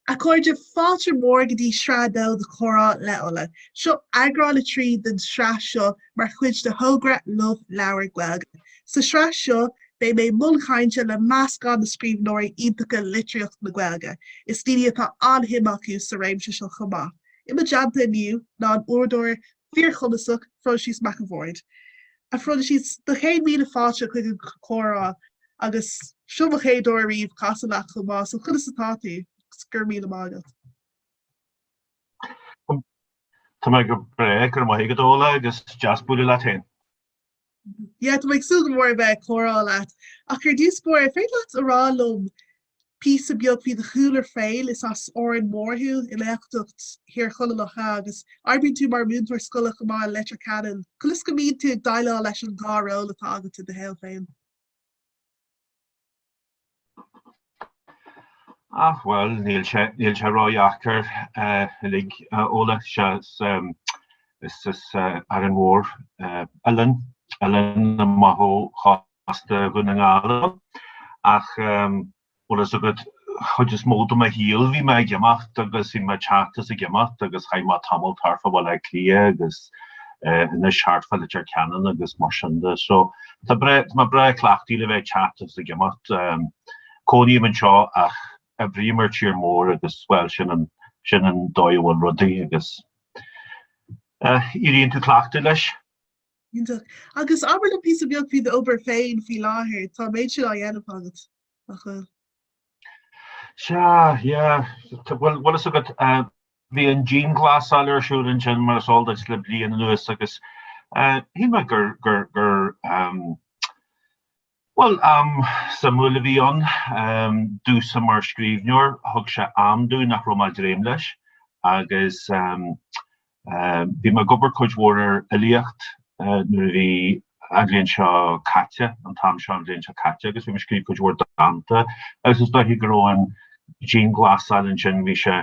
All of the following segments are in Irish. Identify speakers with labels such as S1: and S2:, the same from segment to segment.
S1: A chairde, fáilte mhór go dtí Sraith 2 de Comhrá le Ola. Seo eagrán 3 den sraith seo mar chuid de thogra Love Leabhar Gaeilge. Sa sraith seo, beidh mé i mbun cainte le meascán de scríbhneoirí iontacha litríocht na Gaeilge. is daoine atá an-shuim acu sa réimse seo chomh maith. i mo dteannta inniu ná an t-údar fíorchumasach Proinsias Mac a' Bhaird. A Phroinsias, do chéad míle fáilte chuig an gcomhrá agus seo mo chéad uair ariamh casadh leat chomh maith so conas atá tú? Agus go raibh míle maith
S2: agat. Tá mé go breá, go raibh maith agat a Ola agus deas bualadh leat féin.
S1: Yeah, tá mé ag súil go mór a bheith ag comhrá leat. Ach ar dtús báire, an féidir leat a rá liom píosa beag faoi do chúlra féin? Is as Árainn Mhór thú, i nGaeltacht Thír Chonaill, nach ea, agus oibríonn tú mar mhúinteoir scoile chomh maith i Leitir Ceanainn. Conas go mbíonn tú ag déileáil leis an dá ról atá agat i do shaol féin?
S2: Ach, bhuel, níl sé níl sé ródheacair uilig a Ola. Sea, is as Árainn Mhór, oileán, oileán amach ó chósta Dhún na nGall domh. Ach, bhfuil a fhios agat, an chuid is mó de mo shaol bhí mé ag imeacht agus bhí mé ag teacht is ag imeacht agus chaith mé tamall thart fá Bhaile Átha Cliath agus, anois thart fá Leitir Ceanainn agus mar sin de. So tá breá, tá mé breá cleachtaithe le bheith ag teacht agus ag imeacht. Cónaím anseo ach oibrím ar tír mór agus bhuel sin an, sin an dóigh a bhfuil rudaí agus éiríonn tú cleachtaithe leis. Iontach.
S1: Agus abair linn píosa beag faoi do obair féin faoi láthair, tá an méid sin á dhéanamh agat? a
S2: Ghoill. Sea, yeah. Bhfuil fhios agat, bhí an dianghlasáil ar siúl ansin mar is eol duit le bliain anuas agus shíl mé gur, gur, gur ehm, bhuel, am suimiúil a bhí ann. Ehm, domhsa mar scríbhneoir, thug sé am domh nach raibh mé ag dréim leis agus ehm, Bhí mé ag obair cuid mhór ar fhilíocht nuair a bhí an bhliain seo caite, an t-am seo an bhliain seo caite, agus bhí mé ag scríobh cuid mhór dánta agus is dóiche go raibh an dianghlasáil ansin, bhí sé,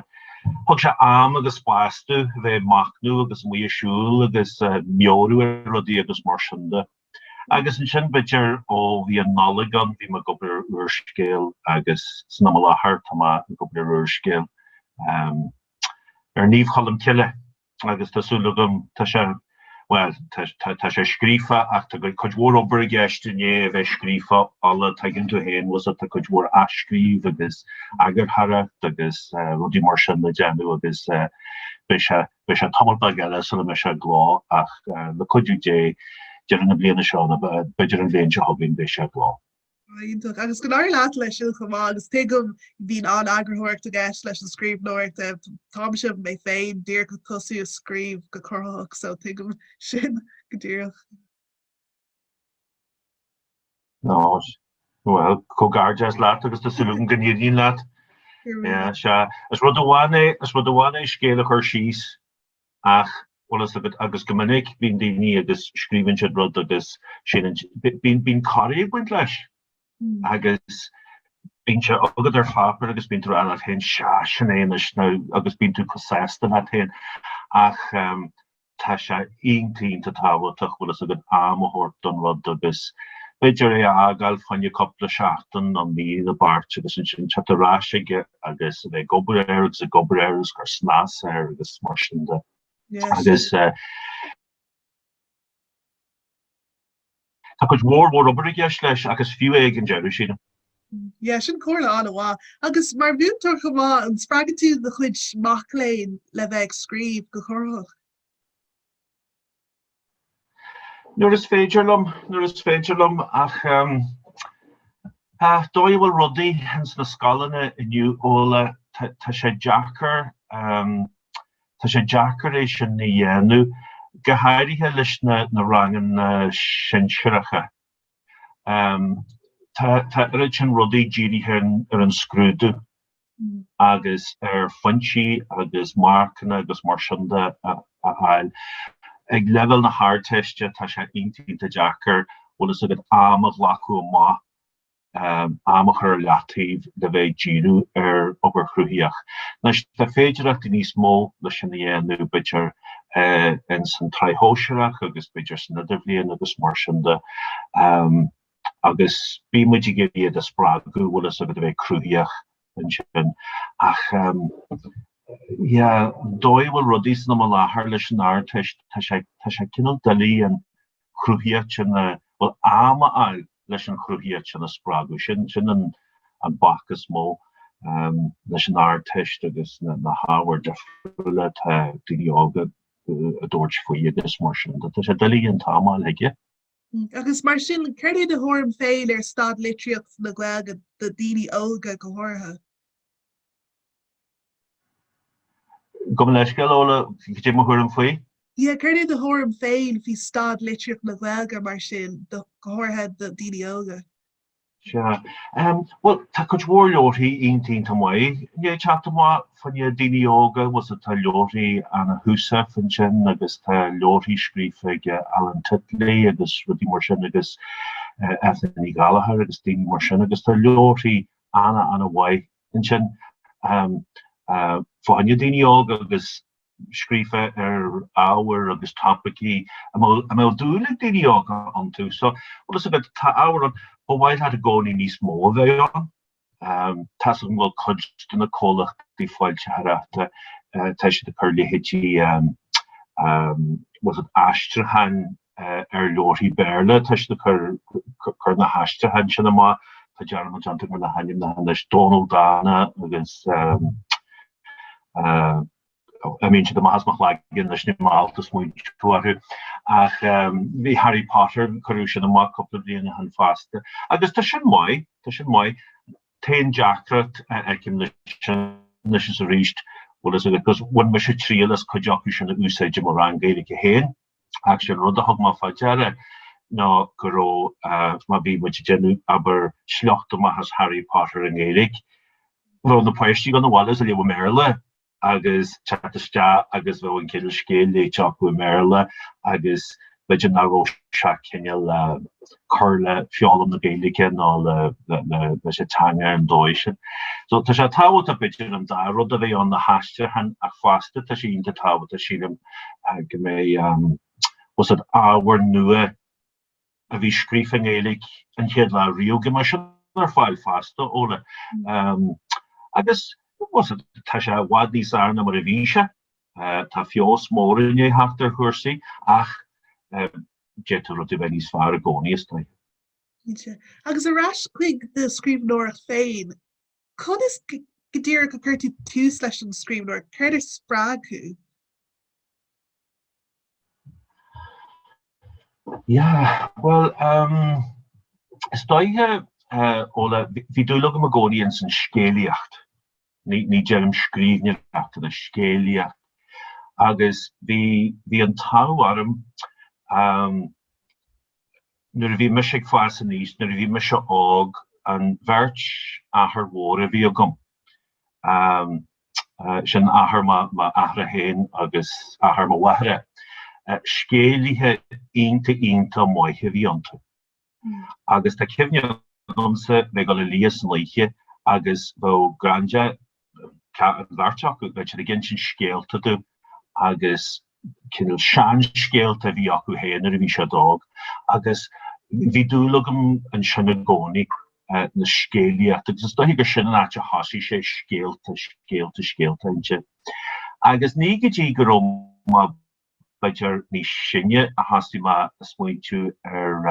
S2: thug sé am agus spás domh a bheith ag machnamh agus amuigh ag siúl agus ag meabhrú ar rudaí agus mar sin de. Agus ansin b'fhéidir ó bhí an Nollaig ann bhí mé ag obair ar úrscéal agus san am i láthair tá mé ag obair ar úrscéal. ar Naomh Colmcille agus tá súil agam tá sé bhuel tá tá tá sé scríofa ach tá cuid mhór obair i gceist i ndiaidh é a bheith scríofa Ola tuigeann tú féin was it tá cuid mhór athscríobh agus eagarthóireacht agus eh rudaí mar sin le déanamh agus eh beidh sé beidh sé tamall beag eile sula mbeidh sé i gcló ach eh le cuidiú Dé deireadh na bliana seo nó b'fhéidir an bhliain seo chugainn beidh sé i gcló. Iontach, agus
S1: go n-éirí leat leis siúd chomh maith agus tuigim go mbíonn an-eagarthóireacht i gceist leis an scríbhneoireacht, táimse mé féin díreach ag tosú ag scríobh go cruthaitheach so tuigim sin go díreach.
S2: Ó, bhuel, comhghairdeas leat agus tá súil agam go n-éiríonn leat. Is rud amháin é scéal a chur síos ach bhfuil fhios agat, agus go minic bíonn daoine agus scríobhann siad rud agus síleann siad, bíonn, bíonn corraí ag baint leis agus bíonn sé agat ar pháipéar agus bíonn tú ag rá leat féin sea, sin é anois now agus bíonn tú chomh sásta leat féin ach tá sé iontach, iontach tábhachtach bhfuil fhios agat am a thabhairt don rud agus b'fhéidir é a fhágáil fá choinne cúpla seachtain nó mí i leataobh agus ansin teacht ar ais aige agus a bheith ag obair air agus ag obair air agus ag cur snas air agus mar sin de agus eh, tá cuid mhór mhór obair i gceist leis agus fiú é ag an deireadh sin. Yeah
S1: sin comhairle an-mhaith. Agus mar mhúinteoir chomh maith an spreagann tú do chuid mac léinn le bheith ag scríobh go cruthaitheach?
S2: Nuair is féidir liom, nuair is féidir liom, ach an dóigh a bhfuil rudaí ins na scoileanna inniu Ola tá sé deacair, tá sé deacair é sin a dhéanamh, go háirithe leis na ranganna sinsearacha. Tá oiread sin rudaí dírithe ar an scrúdú agus ar phointí agus marcanna agus mar sin de a fháil. Ag leibhéal na hArdteiste tá sé iontach deacair, bhfuil fhios agat, am a ghlacadh amach, am a chur ar leataobh le bheith ag díriú ar obair chruthaíoch. Anois, tá féidearthachtaí níos mó leis sin a dhéanamh, b'fhéidir, ins an tSraith Shóisearach agus b'fhéidir san Idirbhliain agus mar sin de agus bíonn muid ag iarraidh iad a spreagadh, bhfuil fhios agat, a bheith cruthaíoch ansin ach yeah an dóigh a bhfuil rudaí san am i láthair leis an Ardteist, tá sé, tá sé cineál doiligh an, chruthaíocht sin a, bhuel, am a fháil leis an chruthaíocht sin a spreagadh, sin sin an an bac is mó leis an Ardteist agus na na hábhair difriúla atá daoine óga ag tabhairt faoi agus mar sin de, tá sé doiligh an t-am a fháil chuige. Agus
S1: mar sin cad é do thuairim féin ar staid litríocht na Gaeilge do dhaoine óga go háirithe?
S2: Gabh mo leithscéal Ola, cad é mo thuairim faoi. Yeah, céard é
S1: do thuairim féin faoi staid litríocht na Gaeilge mar sin, go háirithe do dhaoine óga? Sea.
S2: Bhuel, tá cuid mhór leabharthaí iontach iontach maith ag teacht amach fá choinne daoine óga, bhfuil a fhios agat, tá leabharthaí Anna Heussaff ansin agus tá leabharthaí scríofa ag Alan Titley agus rudaí mar sin agus Eithne Ní Ghallchobhair agus daoine mar sin agus tá leabharthaí ana, ana mhaith ansin. Fá choinne daoine óga agus scríofa ar ábhair agus topaicí a mbeadh dúil ag daoine óga iontu. So, bhfuil fhios agat, tá ábhar ann ba mhaith leat i gcónaí níos mó a bheith ann. Tá's agam go bhfuil cuid de na comhlachtaí foilsitheoireachta, tá siad ag cur leithéidí, bhfuil fhios agat, aistriúcháin ar leabharthaí Béarla tá siad ag cur na haistriúcháin sin amach. Tá dearmad déanta agam ar na hainmneacha anois, Dónal Dána agus imíonn siad amach as mo chloigeann anois, níl mé ábalta smaointiú orthu. Ach bhí Harry Potter, cuireadh sin amach cúpla bliain ó shin fosta. Agus tá sin maith, tá sin maith. An t-aon deacracht a fheicim leis sin anois is arís, bhfuil a fhios agat, ach bhain mise triail as cuid acu sin a úsáid i mo rang Gaeilge féin. Ach sé an rud a thug mé fá deara ná go raibh, má bhí muid ag déanamh, abair, sliocht amach as Harry Potter i nGaeilge, bheadh na páistí ag gabháil abhaile is á léamh i mBéarla ag teacht isteach agus bheadh an cineál scéal léite acu i mBéarla agus b'fhéidir nach raibh sé ag cineál, cur le foghlaim na Gaeilge nó leis an teanga ar an dóigh sin. So tá sé tábhachtach b'fhéidir an dá rud a bheith ann, na haistriúcháin ach fosta, tá sé iontach tábhachtach sílim go mbeidh, bhfuil a fhios agat, ábhar nua a bhí scríofa i nGaeilge an chéad lá riamh, go mbeidh sin ar fáil fosta, Ola. Agus bhfuil a fhios agat, tá sé i bhfad níos fhearr ná mar a bhí sé, tá feabhas mór i ndiaidh theacht ar chúrsaí ach d'fhéadfadh rudaí a bheith níos fearr i gcónaí, is dóiche.
S1: Cinnte. Agus ar ais chuig do scríbhneoireacht féin, conas go díreach a chuir tú tús leis an scríbhneoireacht? Céard a spreag thú?
S2: Yeah, bhuel, ehm, is dóiche, eh, Ola, bhí dúil agam i gcónaí ins an scéalaíocht. ní deirim scríbhneoireacht, ach an scéalaíocht agus bhí, bhí an t-ádh orm nuair a bhí mise ag fás aníos, nuair a bhí mise óg, an bheirt athair mhór a bhí agam, sin athair m'athara féin agus athair mo mháthara, scéalaithe iontach, iontach maith a bhí iontu. agus tá cuimhne agamsa bheith ag dul a luí san oíche agus bheadh Granda, an bheirt acu, bheadh siad ag insint scéalta dúinn agus cineál seanscéalta a bhí acu féin nuair a bhí siad óg agus bhí dúil agam ansin i gcónaí na scéalaíocht agus is dóiche gur sin an áit a thoisigh sé scéalta, scéalta, scéalta ansin. Agus ní go dtí go raibh b'fhéidir níos sine a thoisigh mé ag smaointiú ar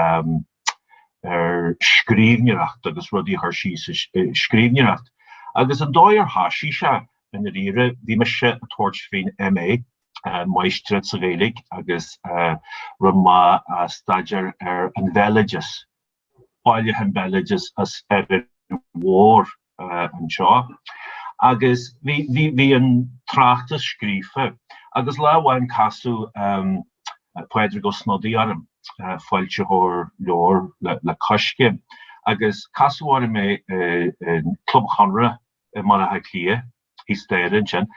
S2: ar scríbhneoireacht agus rudaí a chur síos i scríbhneoireacht. Agus an dóigh ar thoisigh sé, i ndáiríre, bhí mise ag tabhairt faoin MA, máistreacht sa Ghaeilge, agus rinne mé staidéar ar an bhéaloideas. Bailiúchán béaloidis as Árainn Mhór anseo agus bhí an tráchtas scríofa agus lá amháin casadh Pádraig Ó Snodaigh orm, foilsitheoir leabhar le Coiscéim, agus casadh orm é i gClub Chonradh i mBaile Átha Cliath. thíos staighre ansin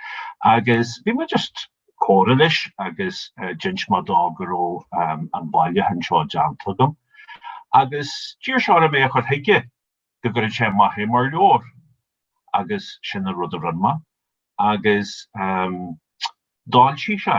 S2: agus bhí mé just ag comhrá leis agus d'inis mé dó go raibh an bailiúchán seo déanta agam agus d'iarr sé orm é a chur chuige go gcuirfeadh sé amach é mar leabhar agus sin an rud a rinne mé agus d'fhoilsigh sé.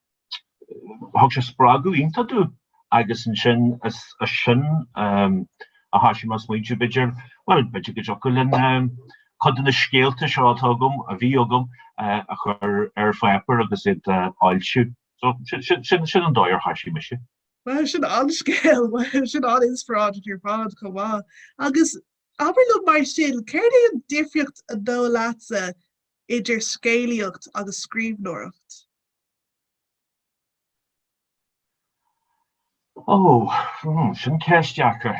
S2: thug sé spreagadh iontach domh agus ansin is as sin a thoisigh mé ag smaointiú b'fhéidir, bhuel b'fhéidir go dtiocfadh liom cuid de na scéalta seo atá agam, a bhí agam, a chur ar pháipéar agus iad a fhoilsiú. So sin sin an dóigh ar thoisigh mise. Bhuel
S1: sin an-scéal, sin an-inspioráideach ar fad chomh maith. Agus abair liom mar sin, céard é an difríocht an dóigh leatsa idir scéalaíocht agus scríbhneoireacht?
S2: Ó, sin ceist dheacair.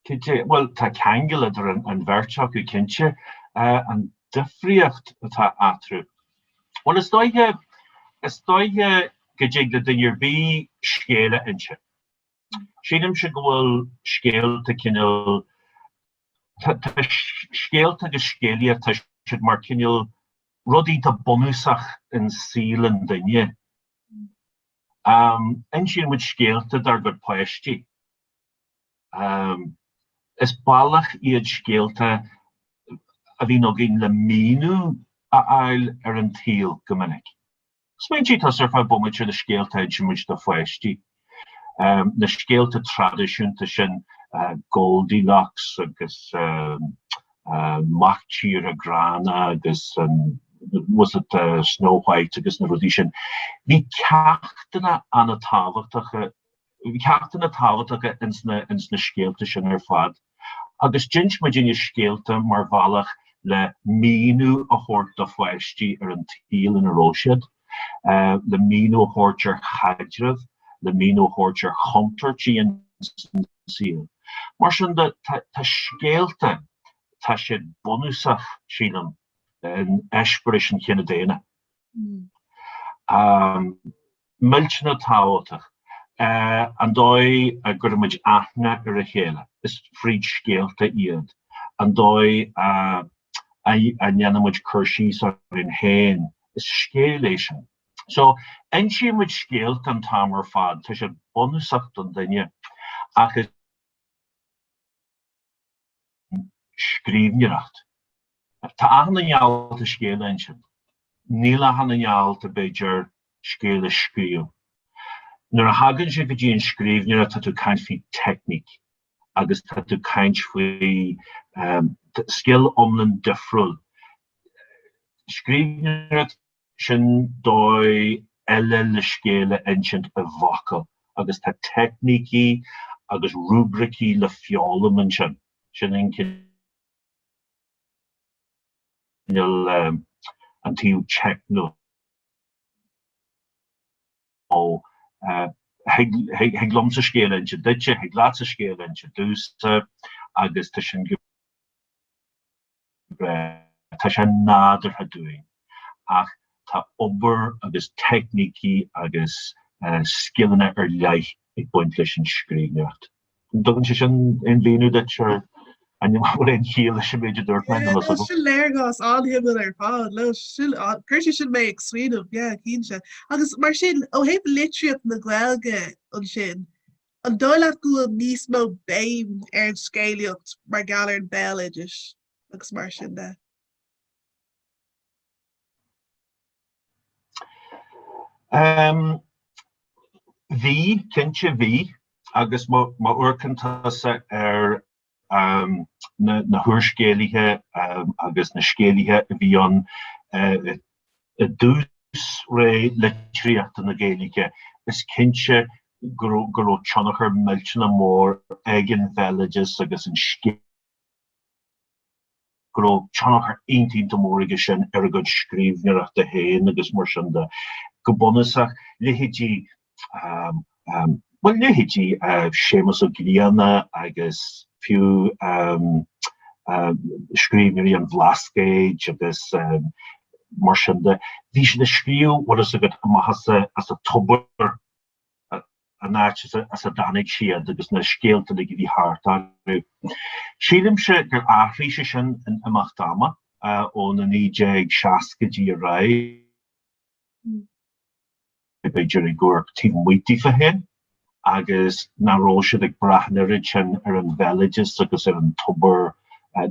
S2: Cad é, bhuel, tá ceangal idir an bheirt acu, cinnte. An difríocht atá eatarthu? Bhuel, is dóiche, is dóiche go dtig le duine ar bith scéal a inse. Sílimse go bhfuil scéalta cineál Tá scéalta agus scéalaíocht, tá siad mar cineál rud iontach bunúsach in saol an duine. Insíonn muid scéalta dár gcuid páistí. Is bealach iad scéalta a bhíonn againn le míniú a fháil ar an tsaol go minic. Smaointigh tusa ar feadh bomaite na scéalta a insíonn muid do pháistí. Na scéalta traidisiúnta sin, Goldilocks agus Mac Tíre Gránna agus was it Snow White agus na rudaí sin. Bhí ceachtanna an-tábhachtacha ceachtanna tábhachtacha ins na scéalta sin ar fad agus d'inis muid na scéalta mar bhealach le míniú a thabhairt do pháistí ar an tsaol ina raibh siad, le míniú a thabhairt ar chaidrimh, le míniú a thabhairt ar chontúirtí an tsaoil. Mar sin de, tá scéalta, tá siad bunúsach, sílim, in eispéiris an chine daonna. millteanach tábhachtach an dóigh a gcuireann muid aithne ar a chéile, is fríd scéalta iad, an dóigh a ndéanann muid cur síos orainn féin, is scéal é sin. So, insíonn muid scéalta an t-am ar fad, tá siad bunúsach don duine ach is. scríbhneoireacht. Tá achan duine in ann scéal a insint. Níl achan duine in ann, b'fhéidir, scéal a scríobh. Nuair a thagann sé go dtí an scríbhneoireacht tá tú caint faoi teicníc agus tá tú caint faoi scil iomlán difriúil. Scríbhneoireacht. sin dóigh eile le scéal a insint i bhfocail agus tá teicnící agus rúibricí le foghlaim ansin. Sin an cineál, an taobh teicniúil. Thig liomsa scéal a insint duitse, thig leatsa scéal a insint domhsa agus tá sin. Tá sé nádúrtha dúinn. Ach tá obair agus teicnící agus scileanna ar leith ag baint leis an scríbhneoireacht. An dtugann sé sin aon mhíniú duit ar, an bhfuil aon chiall leis an méid a dúirt mé? Sin
S1: léargas an-shuimiúil ar fad. Chuir sé sin mé ag smaoineamh, cinnte. Agus mar sin, ó thaobh litríocht na Gaeilge ansin, An dóigh leat go bhfuil níos mó béim ar an scéalaíocht mar gheall ar an béaloideas agus mar sin de?
S2: Um, bhí cinnte bhí agus má amharcann tusa ar na húrscéalaithe agus na scéalaithe a bhí ann i dtús ré litríocht na Gaeilge, is cinnte go raibh tionchar millteanach mór ag an bhéaloideas agus an scéalaíocht, go raibh tionchar iontach mór aige sin ar a gcuid scríbhneoireachta féin agus mar sin de. Go bunúsach, leithéidí, bhuel, leithéidí Séamus Ó Grianna agus fiú scríbhneoirí an Bhlascaoid agus mar sin de, bhí siad ag scríobh, bhfuil fhios agat, amach as, as a dtobar. an áit as a dtáinig siad agus na scéalta uilig a bhí thart orthu. Sílimse gur athraigh sé sin in imeacht ama ó na 1960idí ar aghaidh, b'fhéidir ag amharc taobh amuigh díofa féin agus nach raibh siad ag brath an oiread sin ar an bhéaloideas agus ar an tobar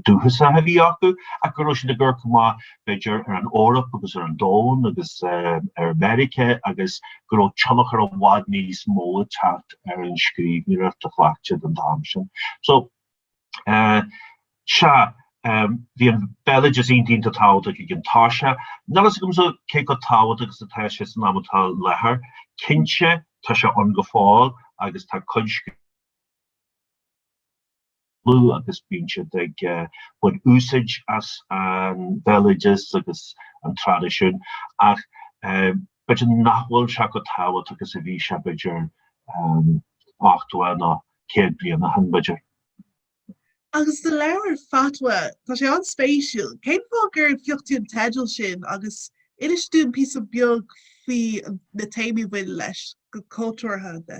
S2: dúchasach a bhí acu ach go raibh siad ag amharc amach b'fhéidir ar an Eoraip agus ar an Domhan agus ar Mheiriceá agus go raibh tionchar i bhfad níos mó ag teacht ar an scríbhneoireacht a chleacht siad an t-am sin. So sea, bhí an béaloideas iontach iontach tábhachtach ag an tús, ach níl fhios agamsa cé chomh tábhachtach is atá sé san am atá i láthair. Cinnte, tá sé ann go fóill agus tá cuid chlú agus bíonn siad ag baint úsáid as an bhéaloideas agus an traidisiún ach b'fhéidir nach bhfuil sé chomh tábhachtach is a bhí sé b'fhéidir ochtó nó céad bliain ó shin b'fhéidir.
S1: Agus do leabhar Fatwa, tá sé an-spéisiúil. Cén fáth gur phioc tú an teideal sin agus inis dúinn píosa beag faoi na téamaí a bhaineann leis, go cultúrtha de?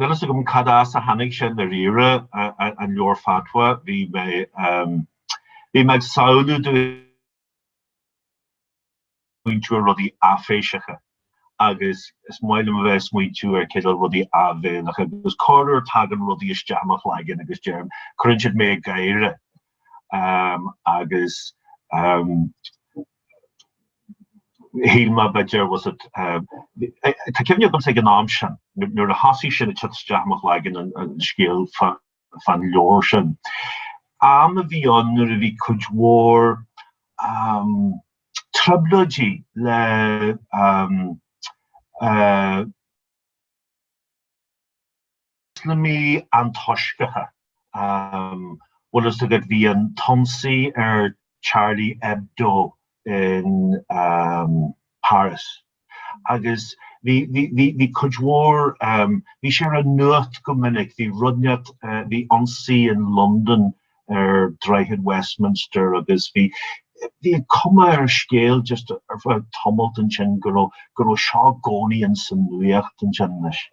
S2: Níl fhios agam cad as a tháinig sé i ndáiríre, an leabhar Fatwa, bhí mé bhí mé ag samhlú do smaointiú ar rudaí aiféiseacha agus is maith liom a bheith ag smaointiú ar cineál rudaí áibhéileacha agus corruair tagann rudaí isteach i mo chloigeann agus deirim cuireann siad mé ag gáire agus shíl mé b'fhéidir was it tá cuimhne agamsa ag an am sin nuair a thosaigh sin ag teacht isteach i mo chloigeann an scéal fán leabhar sin am a bhí ann nuair a bhí cuid mhór trioblóidí le Ioslamaigh antoisceacha. Bhfuil fhios agat bhí an t-ionsaí ar Charlie Hebdo in Paris agus bhí, bhí, bhí cuid mhór, bhí sé ar an nuacht go minic, bhí rud neart, bhí ionsaí in London ar Droichead Westminster agus bhí, bhí an cuma ar an scéal just ar feadh tamalt ansin go raibh, go raibh seo i gcónaí ins an nuacht ansin anois.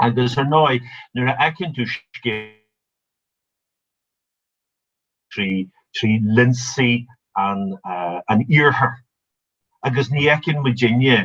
S2: Agus ar ndóigh, nuair a fheiceann tú scéal trí lionsaí an Iarthair, agus ní fheiceann muidinne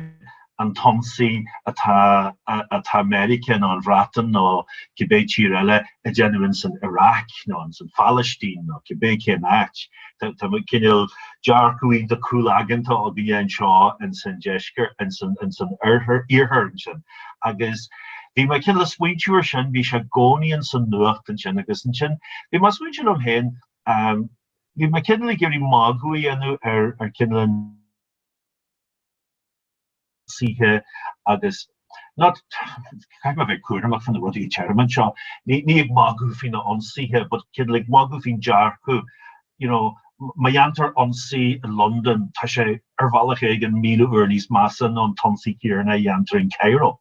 S2: an t-ionsaí atá Meiriceá nó an Bhreatain nó cibé tír eile ag déanamh ins an Iraq nó ins an Phailistín nó cibé cén áit. Tá cineál dearcadh iontach caolaigeanta againne anseo ins an Deisceart, ins an Iarthar ansin. agus bhí mé cineál ag smaointiú air sin, bhí sé i gcónaí ins an nuacht ansin agus ansin bhí mé ag smaointiú liom féin bhí mé cineál ag iarraidh magadh a dhéanamh ar ar cineál ionsaithe agus not caithfidh mé a bheith cúramach faoi na rudaí a deirim anseo ní ní ag magadh faoi na hionsaithe but cineál ag magadh faoin dearcadh you know Má dhéantar ionsaí i Londain, tá sé ar bhealach éigin míle uair níos measa ná an t-ionsaí céanna a dhéantar in Cairo.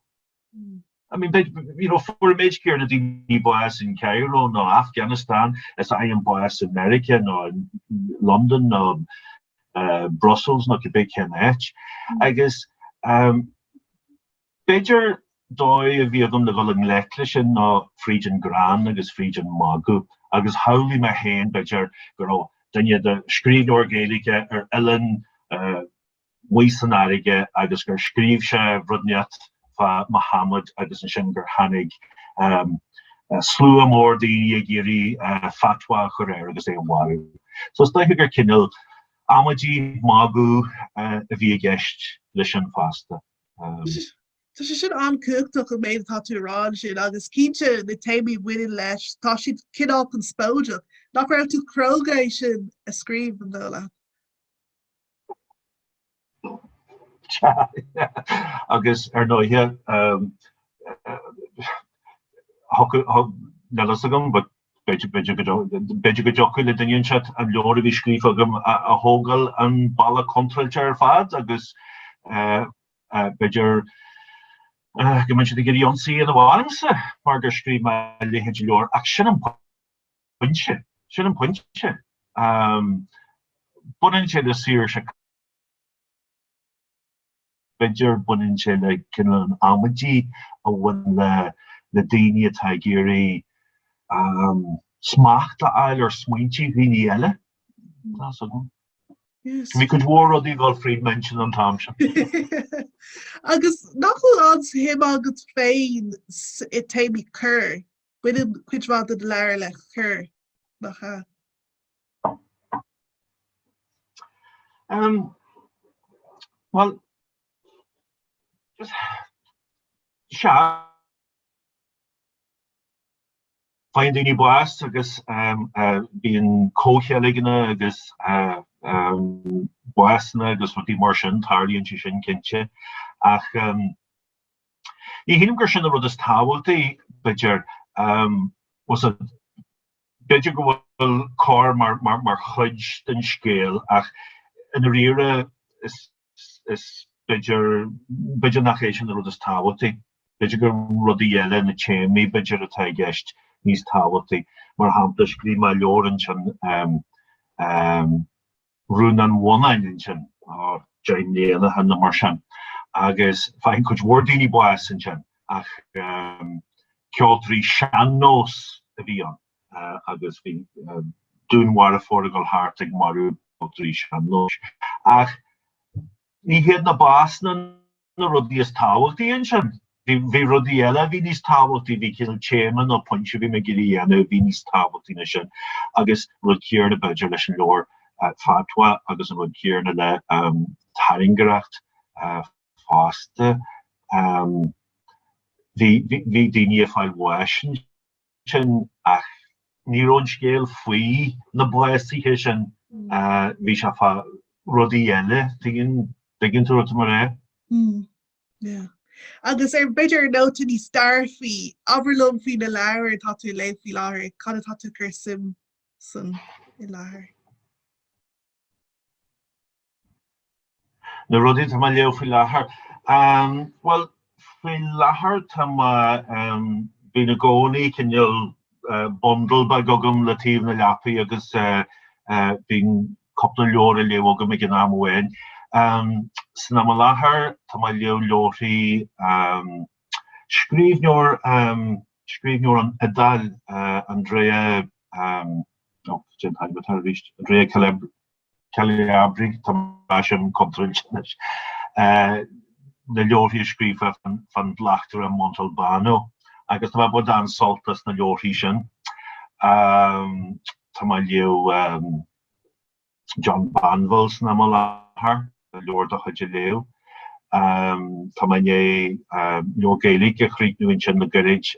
S2: I mean, but, you know, fuair an méid céanna daoine bás in Cairo nó Afghanistan is a fhaigheann bás in America nó in London nó uh, Brussels nó cibé cén áit. Agus um, B'fhéidir dóigh a bhí agam le dhul i ngleic leis sin ná fríd an greann agus fríd an mhagadh, agus shamhlaigh mé féin, b'fhéidir, go raibh duine de, scríbhneoir Gaeilge ar oileán amuigh san fharraige agus gur scríobh sé rud inteacht fá Mahamad agus ansin gur tháinig slua mór daoine ag iarraidh fatwa a chur air agus é a mharú. So is dóiche gur cineál amaidí, magadh a bhí i gceist leis sin fosta.
S1: Tá sé sin an-chumhachtach an méid atá tú a rá ansin agus cinnte na téamaí a bhaineann leis, tá siad cineál conspóideach. Nach raibh tú cróga é sin a scríobh, an dóigh leat?
S2: Sea, agus ar ndóighe níl a fhios agam B'fhéidir go dtiocfadh le duine inteacht an leabhar a bhí scríofa agam a thógáil an bealach contráilte ar fad agus b'fhéidir go mbeadh siad ag iarraidh ionsaí a dhéanamh ormsa mar gur scríobh mé a leithéid de leabhar ach sin an pointe, sin an pointe. Baineann sé le saoirse. B'fhéidir, baineann sé le cineál an amaidí a bhaineann le na daoine atá ag iarraidh smacht a fháil ar smaointí dhaoine eile, tá's
S1: agam. Bhí cuid mhór rudaí ag
S2: dul fríd m'intinn an t-am
S1: sin. Agus nach bhfuil an-shuim agat féin i téamaí coir? Baineann cuid mhaith den leabhar le
S2: coir, nach ea? Bhuel, sea. Faigheann daoine bás agus bíonn comhcheilgeanna agus básanna agus rudaí mar sin, tarlaíonn sé sin cinnte, ach. Ní shílim gur sin an rud is tábhachtaí, b'fhéidir. B'fhéidir go bhfuil coir mar chuid den scéal ach i ndáiríre b'fhéidir nach é sin an rud is tábhachtaí. B'fhéidir gur rudaí eile, na téamaí b'fhéidir, atá i gceist níos tábhachtaí. Mar shampla, scríobh mé leabhar ansin Rún an Bhonnáin ansin, deich mbliana ó shin nó mar sin, agus faigheann cuid mhór daoine bás ansin ach ceoltóirí sean-nós a bhí ann agus bhí dúnmharfóir ag dul thart ag marú ceoltóirí sean-nóis. Ach. Ní hiad na básanna na rudaí is tábhachtaí ansin. Bhí rudaí eile a bhí níos tábhachtaí, bhí cineál téama nó pointe a bhí mé ag iarraidh a dhéanamh a bhí níos tábhachtaí ná sin agus an rud céarna, b'fhéidir, leis an leabhar Fatwa agus an rud céarna le Tairngreacht fosta. Bhí daoine ag fáil bháis. sin, ach ní raibh an scéal faoi na básuithe sin, bhí sé fá rudaí eile, an dtuigeann tú rud mar é.
S1: Agus ar b'fhéidir nóta níos dearfaí, abair liom faoi na leabhair atá tú ag léamh faoi láthair, cad atá tú ag cur suim san i láthair?
S2: Na rudaí atá mé léamh faoi láthair. Bhuel, faoi láthair tá mé, bíonn i gcónaí cineál bundle beag agam le taobh na leapaí agus bíonn cúpla leabhar á léamh agam ag an am amháin. San am i láthair tá mé léamh leabharthaí scríbhneoir, scríbhneoir ón Iodáil, Andrea, oh, caidé an t-ainm atá air arís, Andrea Calabria. Calabri tá mé an contraint leis na leabharthaí a scríobhadh fán bhleachtaire Montalbano agus tá mé ag baint an-sult as na leabharthaí sin. Tá mé ag léamh John Banville san am i láthair, leabhar dá chuid a léamh. Tá mé i ndiaidh leabhar Gaeilge a chríochnú ansin le gairid.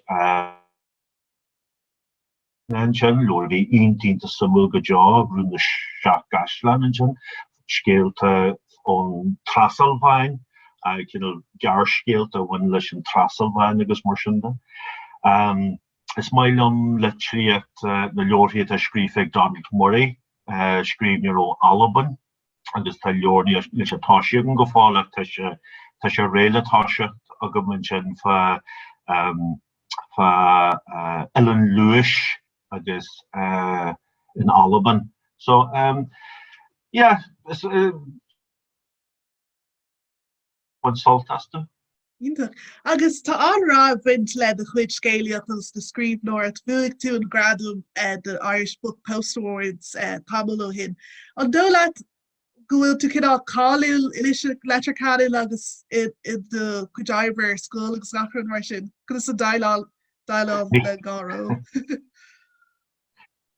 S2: Ansin, leabhar a bhí iontach suimiúil go deo, Rún na Seacht gCaisleán, ansin, scéalta ón Trasalváin, cineál gearrscéalta a bhain leis an Trasalváin agus mar sin de. Is maith liom litríocht na leabharthaí atá scríofa ag Donald Murray, scríbhneoir ó Albain. agus tá leabhar níl sé toisithe agam go fóill ach tá sé tá sé réidh le toiseacht agam ansin fá fá Oileán Leódhais agus in Albain. So yeah bain sult astu.
S1: Iontach. Agus tá an-rath ag baint le do chuid scéalaíocht agus do scríbhneoireacht. Bhuaigh tú an gradam don Irish Book Post Awards tamall ó shin. An dóigh leat go bhfuil tú cineál cáiliúil anois i Leitir Ceanainn agus i do chuid oibre ar scoil agus achan rud mar sin? Conas a dhéileálann tú le dhá ról?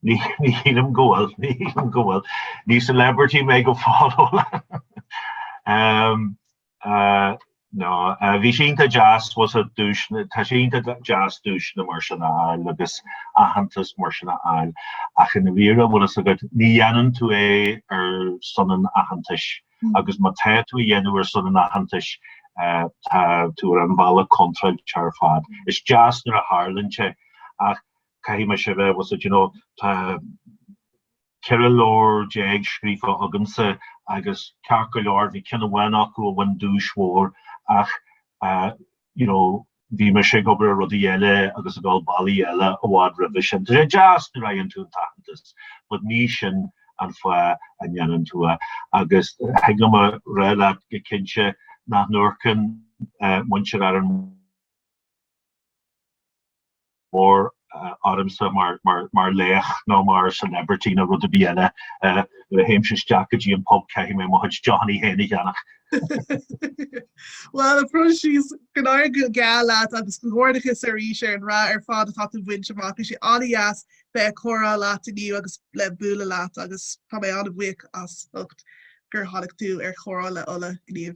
S2: Ní shílim go bhfuil, ní shílim go bhfuil. Ní celebrity mé go fóill a Ola. No, bhí sé iontach deas, an duais, tá sé iontach deas duaiseanna mar sin a fháil agus aitheantas mar sin a fháil ach i ndáiríre, an bhfuil fhios agat, ní dhéanann tú é ar son an aitheantais agus má tá tú á dhéanamh ar son an aitheantais tá tú ar an bhealach contráilte ar fad. Is deas nuair a tharlaíonn sé ach caithfidh mise a bheith you know tá ceithre leabhar déag scríofa agamsa agus ceart go leor bhí ceann amháin acu a bhain duais mhór ach you know bhí mise ag obair ar rudaí eile agus ag gabháil bealaí eile i bhfad roimhe sin Tá sé deas nuair a fhaigheann tú an t-aitheantas but ní sin an fáth a ndéanann tú é agus thig liom a rá leat go cinnte nach n-amharcann muintir Árann Mór ormsa mar laoch nó mar celebrity nó rud ar bith eile. Nuair a théimse isteach go dtí an pub caithfidh mé mo chuid deochanna féin a cheannach.
S1: Bhuel, a Phroinsias, go n-éirí go geal leat agus comhghairdeachas arís ar an rath ar fad atá tú ag baint amach. Bhí sé an-deas bheith ag comhrá leat inniu agus le bualadh leat agus tá mé an-bhuíoch as ucht gur tháinig tú ar Chomhrá le Ola inniu.